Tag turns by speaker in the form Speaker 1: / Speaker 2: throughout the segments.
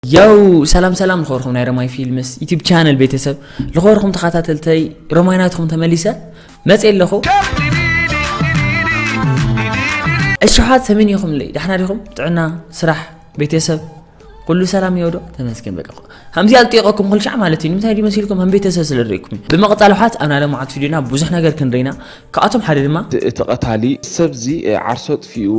Speaker 1: ያው ሰላም ሰላም ልኸበርኩም ናይ ረማይ ፊልምስ ዩቲብ ቻነል ቤተሰብ ልኸበርኩም ተኸታተልተይ ረማይ ናትኹም ተመሊሰ መፅ ኣለኹ እሽሓት ሰሜን ይኹም ለይ ዳሕና ዲኹም ጥዕና ስራሕ ቤተሰብ ኩሉ ሰላም ይወዶ ተመስገን በቃ ከምዚ ኣልጢቀኩም ኩልሻዕ ማለት እዩ ንምንታይ ድዩ መሲልኩም ከም ቤተሰብ ስለ ርኢኩም እዩ ብምቕፃል ውሓት ኣብ ናይ ለማዓት ቪድዮና ብዙሕ ነገር ክንርኢና ካብኣቶም ሓደ ድማ እቲ ቀታሊ
Speaker 2: ሰብዚ ዓርሶ ኣጥፊኡ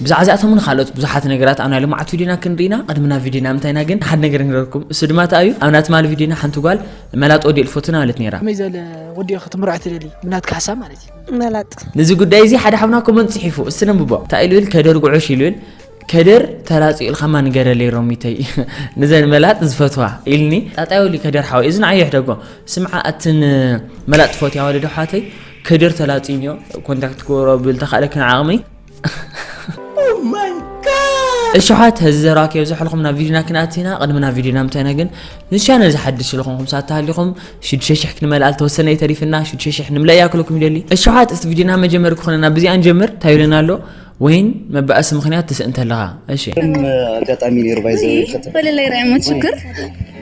Speaker 2: ብዛዕባ እዚኣቶምን
Speaker 1: ካልኦት ብዙሓት ነገራት ኣብ ናይ ሎምዓልቲ ቪድዮና ክንርኢ ኢና ቅድሚ ናብ ቪድዮና ምንታይና ግን ሓደ ነገር ንገረኩም እሱ ድማ እንታይ እዩ ኣብ ናይ ትማሊ ቪድዮና ሓንቲ ጓል መላጥ ወዲ እልፎትና በለት ነይራ ከመይ ዘለ ወዲ ኢኺ
Speaker 3: ትምርዖ ትደሊ ብናትካ ሓሳብ ማለት እዩ መላጥ ነዚ
Speaker 4: ጉዳይ እዚ ሓደ
Speaker 1: ሓብና ኮመንት ጽሒፉ እስቲ ነንብቦ እንታይ ኢሉ ብል ከደር ጉዑሽ ኢሉ ብል ከደር ተላፅኡ ኢልካ ማ ንገረለይ ሮሚተይ ንዘን መላጥ ዝፈትዋ ኢልኒ ጣጣይ ወሊ ከደር ሓወይ እዚ ንዓይ የሕደጎ ስምዓ ኣትን መላጥ ትፈትያ ወለዶ ሓተይ ከደር ተላፅዩኒ ኮንታክት ክገብሮ ብል ተካእለ ክን ዓቕመይ እሽሓት ህዚ ዘረባ ከየብዝሐልኩም ናብ ቪድዮና ክንኣት ኢና ቅድሚ ናብ ቪድዮና ምታይና ግን ምስ ቻነል ዝሓድሽ ዝኾንኩም ሳት ተሃሊኹም ሽዱሽተ ሽሕ ክንመልኣ ዝተወሰነ እዩ ተሪፍና ሽዱሽተ ሽሕ ንምለእ እያ ክለኩም ይደሊ እሽሓት እቲ ቪድዮና መጀመሪ ክኾነና ብዚኣ ንጀምር እንታይ ይብለና ኣሎ ወይን መባእሲ ምክንያት ትስእን ተለኻ እሺ ኣጋጣሚ
Speaker 5: ነይሩ ባይዘ በለላይ ራይሞት
Speaker 4: ሽክር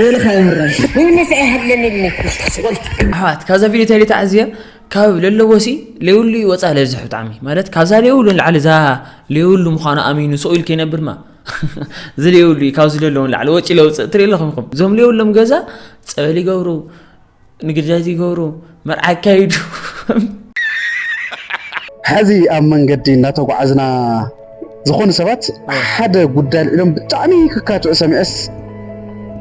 Speaker 5: ሬልኻ
Speaker 1: የምራይ ምንስ ኣይሃለለኒ
Speaker 6: ስቆልት
Speaker 1: ኣሕዋት ካብዛ
Speaker 5: ቪድዮ
Speaker 6: እንታይ
Speaker 1: ተዓዝየ ካብ ለለዎሲ ለይብሉ እዩ ወፃእ ለብዝሕ ብጣዕሚ ማለት ካብዛ ለይብሉ ንላዕሊ እዛ ለይብሉ ምዃኑ ኣሚኑ ሰው ኢሉ ከይነብር ማ እዚ ለይብሉ እዩ ካብዚ ለለዎ ንላዕሊ ወጪ ለውፅእ ትርኢ ኣለኹም ኢኹም እዞም ለይብሎም ገዛ ፀበል ይገብሩ ንግዳይ ዘይገብሩ መርዓ ኣካይዱ
Speaker 7: ሐዚ ኣብ መንገዲ እናተጓዓዝና ዝኾኑ ሰባት ሓደ ጉዳይ ልዕሎም ብጣዕሚ ክካትዑ ሰሚዐስ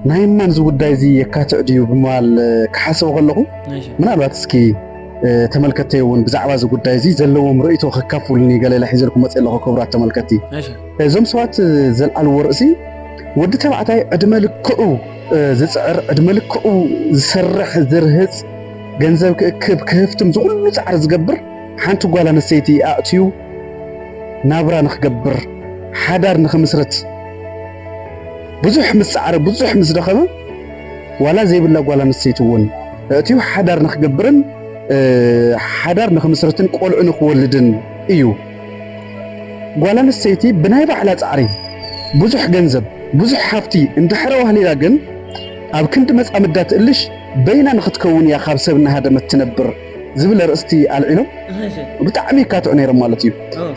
Speaker 7: ናይ ማን እዚ ጉዳይ እዚ የካትዕ ድዩ ብምባል ክሓስቡ ከለኹ ምናልባት እስኪ ተመልከቲ እውን ብዛዕባ እዚ ጉዳይ እዚ ዘለዎም ርእይቶ ከካፍሉኒ ገለለ ሒዘልኩ መፅ ኣለኹ ክብራት ተመልከቲ እዞም ሰባት ዘልዓልዎ ርእሲ ወዲ ተባዕታይ ዕድመ ልክዑ ዝጽዕር ዕድመ ልክዑ ዝሰርሕ ዝርህጽ ገንዘብ ክእክብ ክህፍትም ዝኹሉ ጻዕሪ ዝገብር ሓንቲ ጓል ኣንስተይቲ ኣእትዩ ናብራ ንክገብር ሓዳር ንክምስርት ብዙሕ ምስ ጻዕረ ብዙሕ ምስ ደኸመ ዋላ ዘይብላ ጓል ኣንስተይቲ እውን እእትዩ ሓዳር ንክገብርን ሓዳር ንክምስርትን ቆልዑ ንክወልድን እዩ። ጓል ኣንስተይቲ ብናይ ባዕላ ጻዕሪ ብዙሕ ገንዘብ፣ ብዙሕ ሃብቲ እንተሐረ ዋህሊላ ግን ኣብ ክንዲ መጻምዳ ትእልሽ በይና ንኽትከውን እያ ካብ ሰብ እናሃደመት ትነብር ዝብል ኣርእስቲ ኣልዒሎም ብጣዕሚ ይካትዑ ነይሮም ማለት እዩ።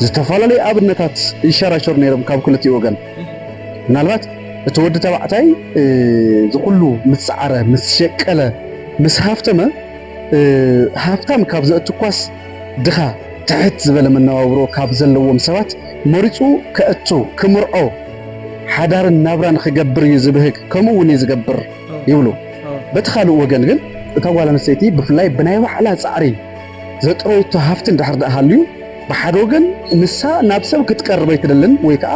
Speaker 7: ዝተፈላለዩ ኣብነታት ይሸራሸሩ ነይሮም ካብ ክልቲኡ ወገን። ምናልባት እቲ ወዲ ተባዕታይ እዚ ኩሉ ምስ ጻዕረ፣ ምስ ሸቀለ፣ ምስ ሃፍተመ ሃፍታም ካብ ዘእትኳስ ድኻ ትሕት ዝበለ መነባብሮ ካብ ዘለዎም ሰባት መሪጹ ከእቱ፣ ክምርዖ፣ ሓዳርን ናብራን ክገብር እዩ ዝብህግ፣ ከምኡ እውን እዩ ዝገብር ይብሉ። በቲ ካልእ ወገን ግን፣ እታ ጓል ኣንስተይቲ ብፍላይ ብናይ ባዕላ ጻዕሪ ዘጥረዩቶ ሃፍቲ እንድሕር ደኣ ሃልዩ፣ ብሓደ ወገን ንሳ ናብ ሰብ ክትቀርብ ኣይትደልን ወይ ከኣ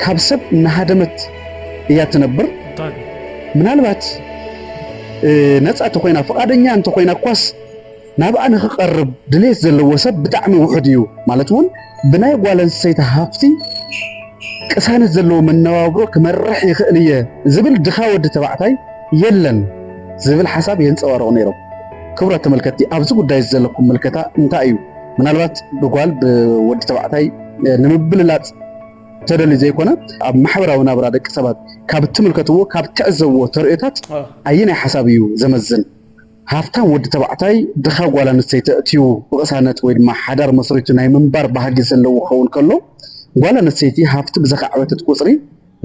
Speaker 7: ካብ ሰብ እናሃደመት እያ እትነብር። ምናልባት ነጻ እንተኾይና፣ ፍቓደኛ እንተኾይና እኳስ፣ ናብኣ ንኽቀርብ ድሌት ዘለዎ ሰብ ብጣዕሚ ውሑድ እዩ፣ ማለት እውን ብናይ ጓል ኣንስተይቲ ሃፍቲ ቅሳነት ዘለዎ መነባብሮ ክመርሕ ይኽእል እየ ዝብል ድኻ ወዲ ተባዕታይ የለን ዝብል ሓሳብ የንፀባርቑ ነይሮም። ክቡራት ተመልከትቲ ኣብዚ ጉዳይ እዚ ዘለኩም ምልከታ እንታይ እዩ? ምናልባት ብጓል ብወዲ ተባዕታይ ንምብልላፅ ተደልዩ ዘይኮነ ኣብ ማሕበራዊ ናብራ ደቂ ሰባት ካብ እትምልከትዎ ካብ እትዕዘብዎ ተርእዮታት ኣየናይ ሓሳብ እዩ ዘመዝን? ሃፍታም ወዲ ተባዕታይ ድኻ ጓል ኣንስተይቲ ኣእትዩ ብቕሳነት ወይ ድማ ሓዳር መስሪቱ ናይ ምንባር ባህጊ ዘለዎ ክኸውን ከሎ፣ ጓል ኣንስተይቲ ሃፍቲ ብዘኻዕበተት ቁጽሪ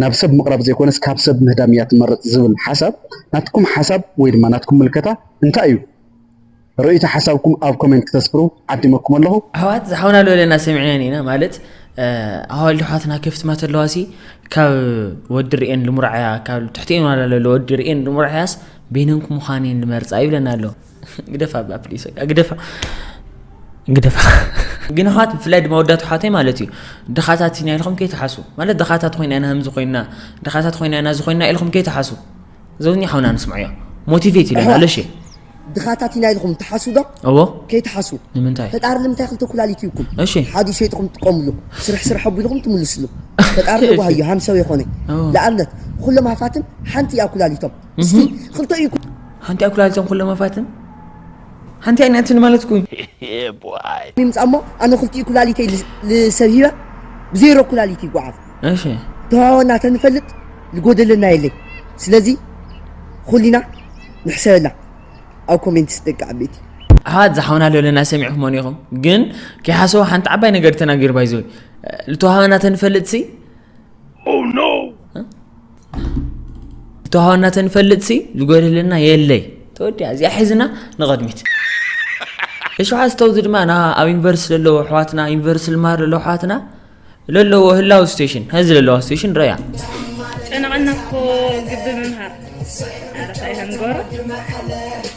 Speaker 7: ናብ ሰብ ምቕራብ ዘይኮነስ ካብ ሰብ ምህዳም እያ ትመርጽ ዝብል ሓሳብ ናትኩም ሓሳብ ወይ ድማ ናትኩም ምልከታ እንታይ እዩ? ርእይቶ ሓሳብኩም ኣብ ኮሜንት ክተስፍሩ ዓዲመኩም ኣለኹ። ኣሕዋት ዝሓውና ኣለወለና
Speaker 1: ሰሚዕናን ኢና ማለት ኣዋልድ ኣሕዋትና ክፍት ማተለዋሲ ካብ ወዲ ርኤን ልሙራዕያ ካብ ትሕቲኤን ዋላ ለሎ ወዲ ርኤን ልሙራዕያስ በይነንኩም ምዃን እየን ዝመርጻ ይብለና ኣሎ ግደፋ እባ ፕሊስ በቃ ግደፋ ግደፋ ግን ኣሕዋት ብፍላይ ድማ ወዳት ኣሕዋተይ ማለት እዩ ድኻታት ኢና ኢልኩም ከይትሓሱ ማለት ድኻታት ኮይና ኢና ከምዚ ኮይና ድኻታት ኮይና ኢና እዚ ኮይና ኢልኩም ከይትሓሱ ዘውኛ ሓውና ንስምዖ እዮ ሞቲቬት ኢለና ኣለሽ እየ ድኻታት ኢና
Speaker 5: ኢልኩም ትሓሱ ዶ እዎ ከይትሓሱ ንምንታይ ፈጣሪ ንምንታይ
Speaker 1: ክልተ ኩላሊት
Speaker 5: ይብኩም እሺ ሓዲ ሸይጥኩም
Speaker 1: ትጥቀምሉ
Speaker 5: ስርሕ ስርሕ ኣቢልኩም ትምልስሉ ፈጣሪ ንጓሃዮ ሃምሰው የኾነ ንኣብነት ኩሎም ሃፋትም ሓንቲ እያ ኩላሊቶም እስቲ ክልተ እዩ ሓንቲ ኣይ ኩላሊቶም ኩለ
Speaker 1: መፋትን ሓንቲ ኣይ ናትን ማለት ኩ ይምፃ
Speaker 5: እሞ ኣነ ክልቲኡ ኩላሊተይ ልሰብ ሂበ ብዜሮ ኩላሊት ይጓዓዝ እሺ
Speaker 1: ተዋወና
Speaker 5: ተንፈልጥ ልጎደለና የለይ ስለዚ ኩሊና ንሕሰበላ ኣብ ኮሜንት ስደቂ ዓበይቲ ኣሕዋት ዝሓውና
Speaker 1: ለለና ሰሚዕኹም ኔኹም ግን ከይሓሰቡ ሓንቲ ዓባይ ነገር ተናጊር ባይዘወይ ልተዋሃበና ተንፈልጥ ሲ oh, ተዋህና ተንፈልጥሲ ዝጎድለና የለይ ተወዲያ እዚኣ ሒዝና ንቐድሚት እሸውዓ ዝተውዚ ድማ ና ኣብ ዩኒቨርስቲ ዘለዎ ኣሕዋትና ዩኒቨርስቲ ልማር ዘለዎ ኣሕዋትና ለለዎ ህላው ስቴሽን ሀዚ ለለዋ ስቴሽን ረያ ጨነቐና
Speaker 4: እኮ ግቢ ምምሃር ኣረኸ ይሃንጎሮ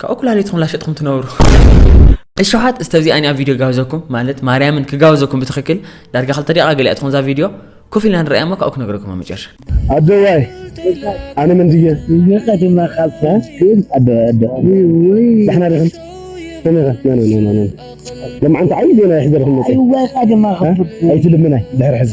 Speaker 1: ካብኡ ኩላሊትኩም ላሸጥኩም ትነብሩ እሸሓት እስተ እዚኣ እኒኣ ቪድዮ ጋብዘኩም ማለት ማርያምን ክጋብዘኩም ብትኽክል ዳርጋ ክልተ ደቂቃ ገሊኣ ትኾን እዛ ቪድዮ ኮፍ ኢልና ንረኣያ እሞ ካብኡ ክነግረኩም ኣብ መጨረሻ ኣደዋይ
Speaker 7: ኣነ መን ድየ ቀዲማ ካብካ
Speaker 6: ግን ኣደ ኣደ
Speaker 7: ዳሕና ዲኹም ሰሚኻ ኖ ኖ ኖ ኖ ለማዓንቲ ዓብዪ ዜና ይሕዘልኩም መፅእ
Speaker 6: ኣይትልምናይ ድሕሪ
Speaker 7: ሕዚ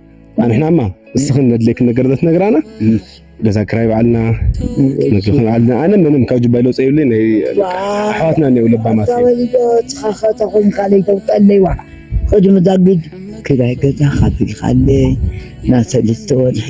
Speaker 5: ኣንሕናማ ንስኽን ነድልየክን ነገር ዘትነግራና ገዛ ክራይ ባዕልና ምግቢ ባዕልና ኣነ ምንም ካብ ጅባይ ለውፀ ይብለይ ናይ ኣሕዋትና እኔው ለባማት ተኸተኹም ካልይ ተውጠለይዋ ኸዲ መዛግድ ክራይ ገዛ ካፊልካለይ ናብ ሰለስተ ወርሒ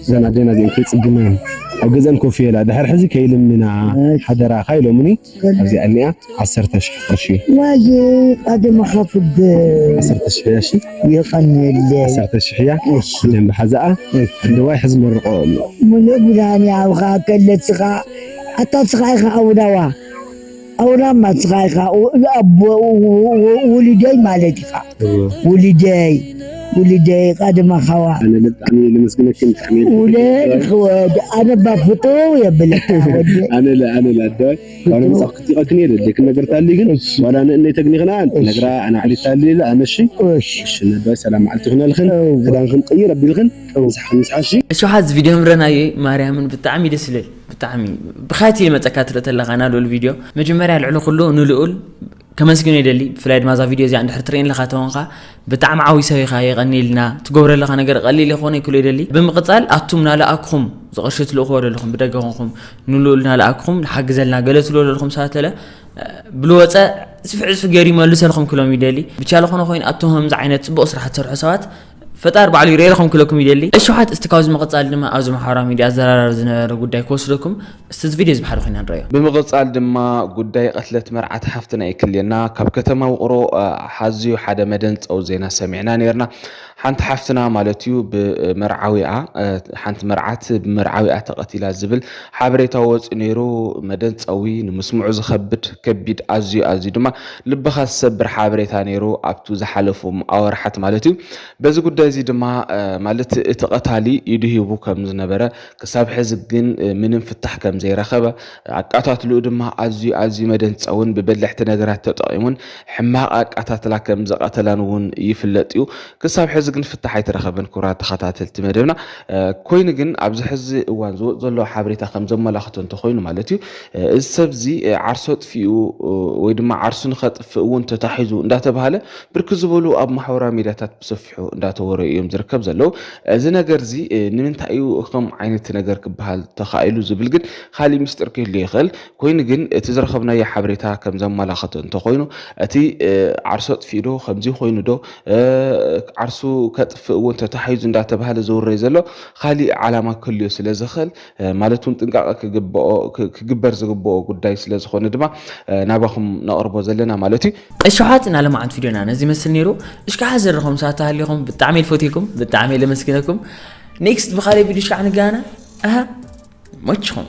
Speaker 5: እዘን ኣዴና እዚኤን ከይፅግመን ኣብ ገዝኣን ኮፍ ይበላ ድሕሪ ሕዚ ከይልምና ሓደራኻ ኢሎምኒ ኣብዚኣ እኒኣ ዓሰርተ ሽሕ ቅርሺ ዋየ ቃደመ ካፍደ ዓሰርተ ሽሕ እያ እሺ የቀንየለ ዓሰርተ ሽሕ እያ ደንብ ሓዛኣ ኣደዋይ ሕዚ መርቆ ኣሎ ሙሉእ ብርሃን ያውኻ ከለትኻ ኣታ ስኻ ኢኻ ኣውዳዋ ኣውራ ማስኻ ኢኻ ኣቦ ውሉደይ ማለት ኢኻ ውሉደይ ውሉደይ ቃድማ ኻዋ ወድ ኣነባ ፍቶ የብለካ ወድ ኣነለ ኣነለ ኣደ ዋላ መጽሐፍ ክትቀክን የለ ደክ ነገር ታሊ ግን ዋላ ንእነ ተግኒኽና ነግራ ኣና ዓሊ ታሊ ኣነሺ እሺ ነባ ሰላም ዓልቲ ክነልኽን ክዳንክን ቀይር ኣቢልኽን ምሳሕን ምሳሺ እሺ ሓዝ ቪድዮ
Speaker 1: ምረናየ ማርያምን ብጣዕሚ ደስ ይለል ብጣዕሚ ብካይቲ መፀካ ትርኢ ተለካ ና ልኡል ቪድዮ መጀመርያ ልዕሊ ኩሉ ንልኡል ከመስግኖ ይደሊ ብፍላይ ድማ እዛ ቪድዮ እዚኣ እንድሕር ትርእየን ለካ ተኾንካ ብጣዕሚ ዓብዪ ሰብ ኢኻ የቐኒልና ትገብረ ለካ ነገር ቀሊል ይኾነ ይክሉ ይደሊ ብምቕፃል ኣቱም ናልኣክኹም ዝቕርሺ ትልእክዎ ዘለኹም ብደገ ኮንኩም ንልኡል ናልኣክኹም ንሓግዘልና ገለ ትብሎ ዘለኹም ሰባት ተለ ብልወፀ ፅፍዕ ፅፍ ገይሩ ይመልሰልኩም ክሎም ይደሊ ብቻለ ኮነ ኮይኑ ኣቱም ከምዚ ዓይነት ፅቡቕ ስራሕ ትሰርሑ ሰባት ፈጣር ባዕሉ ይርኤልኹም ክለኩም ይደሊ እሽሓት እስቲ ካብዚ ምቕጻል ድማ ኣብዚ ማሕበራዊ ሚድያ ኣዘራራቢ ዝነበረ ጉዳይ ክወስደኩም እስቲ እዚ ቪድዮ እዚ ብሓደ ኮይና ንረዮ። ብምቕጻል ድማ
Speaker 2: ጉዳይ ቐትለት መርዓት ሓፍትና እዩ ክልየና። ካብ ከተማ ውቕሮ ሓዝዩ ሓደ መደንጸዊ ዜና ሰሚዕና ኔርና። ሓንቲ ሓፍትና ማለት እዩ ብመርዓዊኣ ሓንቲ መርዓት ብመርዓዊኣ ተቐቲላ ዝብል ሓበሬታ ወጺኡ ኔሩ። መደንጸዊ ንምስምዑ ዝኸብድ ከቢድ ኣዝዩ ኣዝዩ ድማ ልብኻ ዝሰብር ሓበሬታ ነይሩ ኣብቱ ዝሓለፉም ኣወርሓት ማለት እዩ። በዚ ጉዳይ እዚ ድማ ማለት እቲ ቀታሊ ኢዱ ሂቡ ከም ዝነበረ ክሳብ ሕዚ ግን ምንም ፍታሕ ከም ዘይረኸበ ኣቃታትልኡ ድማ ኣዝዩ ኣዝዩ መደንጸውን ብበለሕቲ ነገራት ተጠቒሙን ሕማቕ ኣቃታትላ ከም ዝቐተላን እውን ይፍለጥ እዩ። ክሳብ ሕዚ ግን ፍታሕ ኣይተረኸበን ክቡራት ተኸታተልቲ መደብና። ኮይኑ ግን ኣብዚ ሕዚ እዋን ዝወጽእ ዘሎ ሓበሬታ ከም ዘመላኽቶ እንተኾይኑ ማለት እዩ እዚ ሰብ እዚ ዓርሰ ከጥፊኡ ወይ ድማ ዓርሱ ንኸጥፍእ እውን ተታሒዙ እንዳተባሃለ ብርክ ዝበሉ ኣብ ማሕበራዊ ሚዲያታት ብሰፊሑ እንዳተወረዩ እዮም ዝርከብ ዘለው እዚ ነገር እዚ ንምንታይ እዩ ከም ዓይነት ነገር ክበሃል ተኻኢሉ ዝብል ግን ካሊእ ምስጢር ክህሉ ይኽእል ኮይኑ ግን እቲ ዝረኸብናዮ ሓበሬታ ከም ዘመላኸቶ እንተኾይኑ እቲ ዓርሱ ኣጥፊኡ ዶ ከምዚ ኮይኑ ዶ ዓርሱ ከጥፍእ እውን ተታሒዙ እንዳተባሃለ ዝውረይ ዘሎ ካሊእ ዓላማ ክህልዮ ስለ ዝኽእል ማለት እውን ጥንቃቐ ክግበር ዝግብኦ ጉዳይ ስለ ዝኾነ ድማ ናባኹም ነቕርቦ ዘለና ማለት እዩ። እሺ ኣሕዋት ናይ ለማዓንቲ
Speaker 1: ቪድዮና ነዚ ይመስል ነይሩ እሽካዓ ዘረኹም ሳብ ተሃሊኹም ብጣዕሚ እየ ልፈትየኩም ብጣዕሚ እየ ለመስግነኩም ኔክስት ብካሊእ ቪድዮ እሽካዓ ንገናና ኣሃ መችኹም